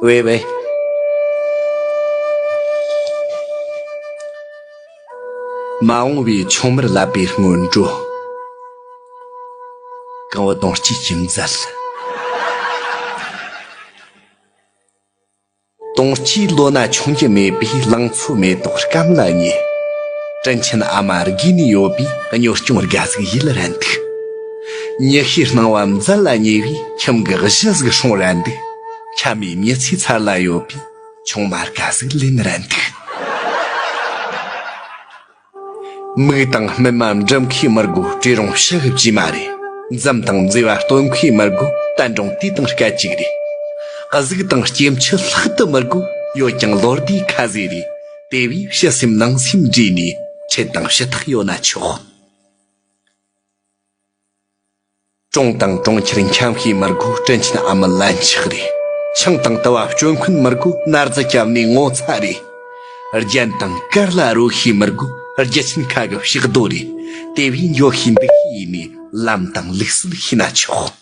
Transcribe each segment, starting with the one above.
བའི་བའི། མ་འོངས་པའི་ཆུང་མར་བསླབ་པའི་སྔོན་འགྲོ། གང་བུ་དོང་སྤྱི་ཁྱིམ་མཛད། དུང་སྐྱེས་བློ་སྣ་ཆུང་རྒྱུ་མེད་པས་ལང་ཚོ་མེ་ཏོག་སྐམ་ལ་ཉེ། དྲིན་ཆེན་ཨ་མ་དགོས་ནས་ཡོད་པས་གཉོར་སྐྱོང་དགའ་གཟུགས་ཡིད་ལ་འདུག། མྱི་ཤེས་སྣང་བ་མཛད་ལ་ཉེ་བས་ཁྱིམ་གྱི་གཞི་གཟུགས་སྲུང་ར་འདུག། ཁྱམས་མའི་མྱི་ཚེའི་མཚར་ལ་ཡོད་པས་ཆུང་མར་དགའ་གཟུགས་ལེན་ར་འདུག། མིག་དང་སྨིན་མ་འབྲི་མཁས་མི་དགོས་བྲེ་རོང་ཤི་ཤི་བྱས་མ་རེད་འཛུམ་དང་མཛེས་པ་སྟོན་མཁས་མི་དགོས་གཏན་གྲོང་དུས་དང་སྐད་ཅིག་རེད་གཟུགས་དང་སྐྱེ་མཆེད་ལྷག་ཏུ་མི་དགོས་ཡོད་ཀྱང་ལོ་ཟླའི་ཁ་ཟས་རེད་དེ་བས་ཕྱི་སེམས་ནང་སེམས་འདྲེས་ནས་ཁྲེལ་དང་ཞུ་དག་ཡོད་ན་ཆོག། གྲོང་དང་གྲོང་ཁྱེར་འཁྱམ་ཤས་མི་དགོས་སྤྲིན་ཆེན་ཨ་མི་ལན་ཆགས་རེད། ཆང་དང་དུ་བ་སྤྱོད་འཁོན་མི་དགོས་སྣར་རྫི་སྐྱབས་གནས་ངོ་ཚ་རེད། རྒྱན་དང་དཀར་ལ་རོལ་ཤས་མི་དགོས་རྒྱུ་ཆེན་ཁ་གི་ཕྱག་རྡོ་རེད། དེ་བས་འགྱོད་ཤས་འབིགས་ཤས་ཡིན་མོད་ལམ་དང་ལུགས་སྲོལ་ཤེས་ན་ཆོག།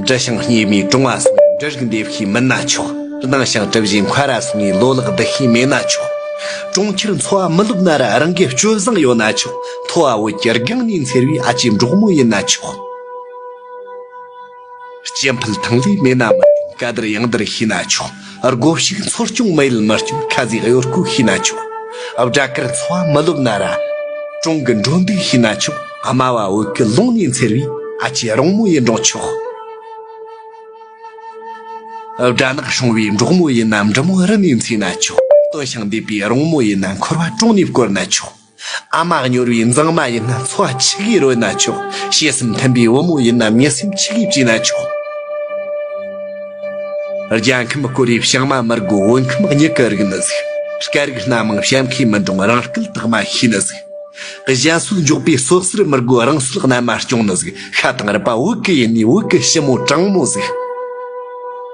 འབྲི་ཞིང་སྙེ་མའི་གྲོང་བ་སོགས་ནས་འབྲི་རིགས་འདེབས་ཤེས་མིན་ན་ཆོག་གདངས་ཞིང་གྲིབ་བཞིན་འཁོལ་ར་སོགས་ནས་ལོ་ལེགས་འབྲི་ཤེས་མེད་ན་ཆོག་གྲོང་ཁྱེར་འཚོ་བ་མི་ལོབས་ན་ར་རང་གི་སྤྱོད་བཟང་ཡོད་ན་ཆོག་མཐོ་བ་འོད་ཀྱི་སྒང་ནས་འཚེར་བའི་ཨ་ཅེ་འབྲོག་མོ་ཡིན་ན་ཆོག་སྐྱེ་འཕེལ་ཐང་ལས་མེད་ན་མི་སྐྱོང་ག་དར་གཡང་དར་ཤེས་ན་ཆོག། སྒོ་ཕྱུགས་འཚོ་སྐྱོང་མི་ཡུལ་མི་སྐྱོང་ཁ་ཟས་གཡོར་སྐུག་ཤི་ན་ཆོག་སྦྲ་གར་འཚོ་བ་མི་ལོབས་ན་ར་གྲོང་གི་འགྲོ་འདུག་ཤི་ན་ཆོག་དམའ་བ་འོད་ཀྱི་ཀློང་ནས་འཚེར་བའི་ཨ་ཅེ་རོང་མོ་ཡི་འབྲོག་ཕྱོགས། སྦྲ་ནག་སྲུང་བའི་འབྲོག་མོ་ཡིན་ན་འབྲི་མོ་རི་ནས་འཚེར་ན་ཆོག་སྟོད་ཞིང་འདེབས་པའི་རོང་མོ་ཡིན་ན་འཁོར་བ་གྲོང་ནས་བསྐོར་ན་ཆོག། ཨ་མ་སྙོར་བའི་མཛངས་མ་ཡིན་ན་འཚོ་བ་ཆི་གས་རོལ་ན་ཆོག་བྱད་སེམས་མཐུན་པའི་བུ་མོ་ཡིན་ན་མི་སེམས་ཆི་གས་བཅིངས་ན་ཆོག། རྒྱལ་ཁམས་བསྐོར་བའི་བྱང་མ་མི་རྒོད་བོད་ཁམས་སྙི་གི་རིགས་ནི་གཟིགས། སྐད་རིགས་སྣ་མང་བྱམས་མཁས་མི་འདྲོངས་རང་སྐད་དག་མ་ཤེས་ནི་གཟིགས། གཞན་སྲོལ་འཇོག་པའི་སྲོག་གསེར་མི་རྒོད་རང་སྲོལ་རྣལ་མ་སྐྱོང་ནི་གཟིགས་ཤ་དང་རུས་པ་བོད་གི་ཡིན་ནས་བོད་གི་ཞི་མོ་དྲང་མོ་གཟིགས།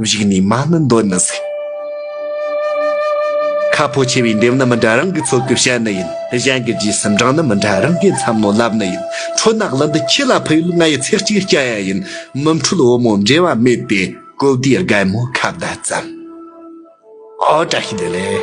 བཞུགས་ནས་མ་ནི་འདོད་ནི་ཟིག། ཁ་ཕོ་ཆེ་བའི་འདེབས་ནི་མི་འདྲ་རང་གི་ཚོགས་ཀྱི་བཤད་ནི་ཡིན། གཞན་གྱི་རྗེས་སུ་འབྲངས་ནི་མི་འདྲ་རང་གི་མཚམས་ནོར་ལབ་ནི་ཡིན། འཕྲུལ་ནག་ལི་འདི་ཁྱི་ལ་ཕུལ་ཡུལ་ང་ཡི་ཚེ་གཅིག་སྐྱ་ཡ་ཡིན། མི་འཕྲུལ་བུ་མོ་འབྲེལ་བ་མེད་པའི་ཀོ་བདེའི་སྒལ་མོ་ཁ་བརྡ་ཙམ། ཨོ་བཀྲ་ཤིས་བདེ་ལེགས།